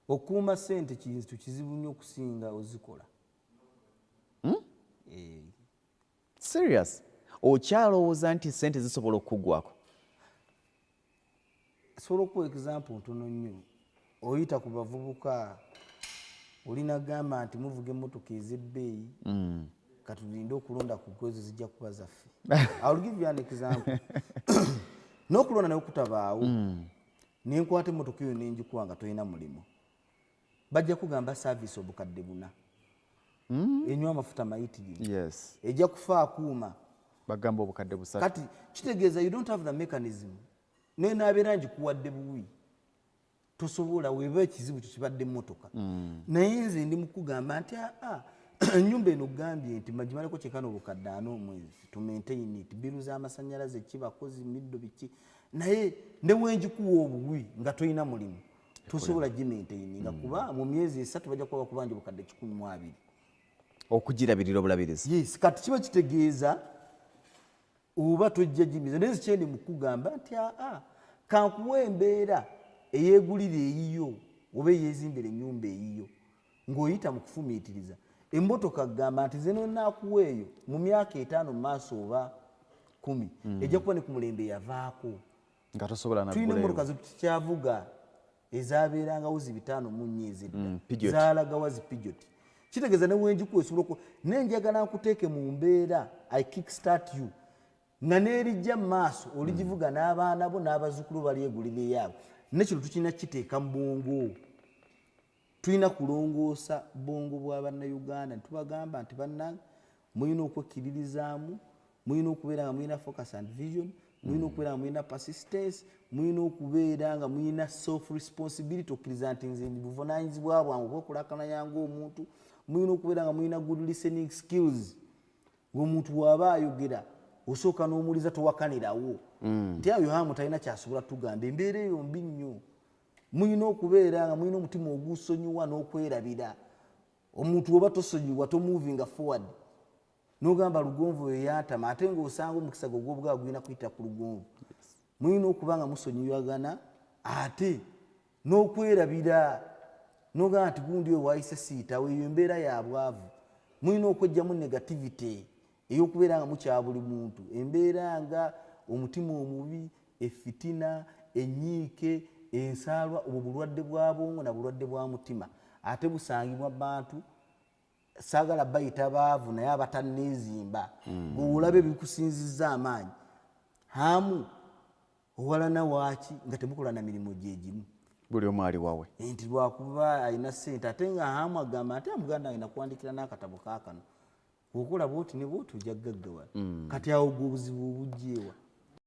okuuma sente kintu kizibu nnyo okusinga ozikola hmm? eh. serious okyalowooza nti sente zisobola okukugwako sobola okuwa example ntono nnyo oyita ku bavubuka olina gamba nti muvuga emotoka ezebbeeyi hmm. katulinde okulonda ku gwezo zijja kuba zaffe nokulonda naye okutabaawo hmm. ne nkwata emmotoka eyo ne ngikuwa nga tolina mulimu bajja kugamba saaviisi obukadde buna hmm? enywa amafuta mayitirivu ejja kufa akuuma bagamba obukadde busatu kati kitegeeza you don't have the mechanism naye nabeera ngikuwadde buwi tosobola weba ekizibu kyo kibadde mmotoka hmm. naye nze ndi mukugamba nti aa ah, ah, enyumba eno gambye nti magimaleko kyekana obukadde ana omwezi tumaintain it biru z'amasannyalaze ki bakozi middo biki naye newenjikuwa obuwi nga tolina mulimu tosobola gimaintaining nga mm. kuba mu myezi esatu bajja kuba bakubanja obukadde kikumi mu abiri okugirabirira obulabirizi yes kati kiba kitegeeza oba tojja gimiza naye zikyendi mukugamba nti aa ah, ah, kankuwa embeera eyegulira eyiyo oba eyezimbira enyumba eyiyo ng'oyita mu kufumiitiriza emmotoka kugamba nti ze nonaakuwa eyo mu myaka etaano mu maaso oba kumi hmm. ejja kuba ne ku mulembe yavaako nga tosobola tulina emmotoka zetukyavuga ezabeerangawo zi bitaano mu nnya ezidda hmm, zaalagawa zi pijoti kitegeeza ne wenjikuwa esobola oku naye njagala nkuteeke mu mbeera i kick start you nga n'erijja mu maaso oligivuga hmm. n'abaana bo n'abazzukulu balyegulira eyaabo nekino tukirina kukiteeka mu bwongo tulina kulongoosa bwongo bwa bannayuganda netubagamba nti bannange mulina okwekkiririzaamu mulina okubeera nga mulina focus and vision mulina mm. okubeera nga mulina persistence mulina okubeera nga mulina self responsibility okkiriza nti nze buvunanyizibwa bwange okwekulakananya ngaomuntu mulina okubeera nga mulina good listening skills ngaomuntu waaba ayogera osooka n'omuliza towakanirawo mm. nti ayo hamu talina kyasobola tugamba embeera eyo mbi nnyo mulina okubeera nga mulina omutima ogusonyiwa n'okwerabira omuntu oba tosonyiwa tomuvinga forward nogamba lugonvu oyo yantama ate ngaosanga omukisa gwe ogwobugaa gulina kuyita ku lugonvu mulina okuba nga musonyiwagana ate n'okwerabira nogamba nti gundi oyo wayise siitawo eyo embeera ya bwavu mulina okwejjamu negativity eyokubeera nga mukya buli muntu embeera nga omutima omubi efitina enyiike ensaalwa obwo bulwadde bwa bwongo na bulwadde bwa mutima ate busangibwa bantu saagala bayita baavu naye abatanneezimba hmm. gweolaba ebikusinzizza amaanyi hamu owalana waaki nga temukola na mirimu gyegimu buli omu ali wawe eh, nti lwakuba alina sente ate nga hamu agamba ate muganda alina kuwandikira n'akatabo kaakano bwokola bwoti ne bwoti ojja kugaggawala mm. kati awo gwe obuzibu obujjeewa